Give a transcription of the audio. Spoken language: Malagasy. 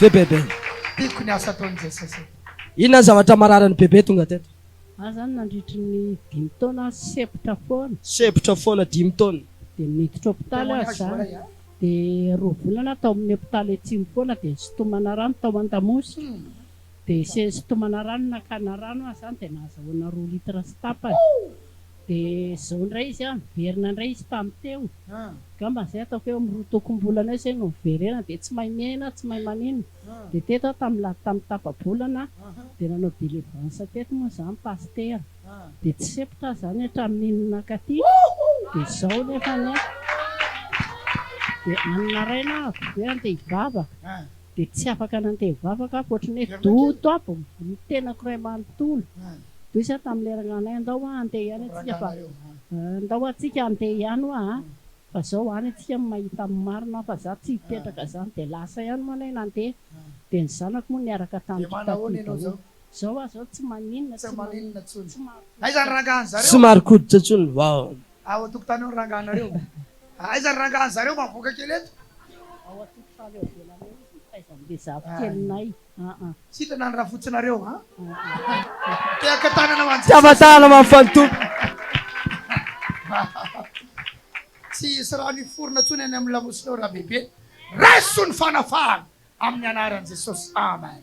Ve bebe. Tiako ny asa ataon'i Jesosy e. Inona ny zavatra mararin'i bebe tonga teto? Ahy zany nandritry ny dimy taona aho sepotra foana. Sepotra foana dimy taona. Dia niditra hopitaly aho zany. Dia roa volana aho tao amin'ny hopitaly atsimo foana dia nisintomana rano tao Andamosy. Dia se sitomana rano nakana rano aho zany dia nahazahoana roa litre sy tapany dia zao indray izy an miverina indray izy tamin'ny teo angamba izay ataoko eo amin'ny roa tokom-bolana eo izay no niverena dia tsy mahay miaina tsy mahay manino dia teto aho tamin'ny la tamin'ny tapa-bolana dia nanao délivrance teto moa izany pasitera dia tsy sempotra aho izany hatramin'iny nankaty dia izao nefany an dia any naraina aho dia andeha hivavaka Dia tsy afaka nantevy vavaka aho ankoatry ny hoe Do top ny tenako iray manontolo. Do isan tamin'ny lerana anay andao hoa handeha ihany antsika fa andao hoa tsika handeha ihany hoa a! Fa zao any antsika no mahita ny marina hoa fa za tsy hipetraka zany dia lasa ihany moa anay nandeha dia ny zanako moa niaraka tamiko taty daholo. Zao aza aho tsy maninona tsy maninona intsony. Aiza ny rangahy an'i zareo? Tsy marikoditra intsony ny vavany. Ao an-tokotany ao ny rangahanareo. Aiza ny rangahan zareo mba avoaka kely eto. Ao an-tokotany ao ivelany ao izy mitaiza ny bezafy kelinay aa. Sitrana ny rafotsinareo a. Tehaka tanana ho an'i Jesosy. Tehaka tanana ho an'i Fanitompo. Tsy hisy rano hiforona intsony any amin'ny lamosinao Rabebe. Raiso ny fanafahana amin'ny anaran'i Jesosy. Amen.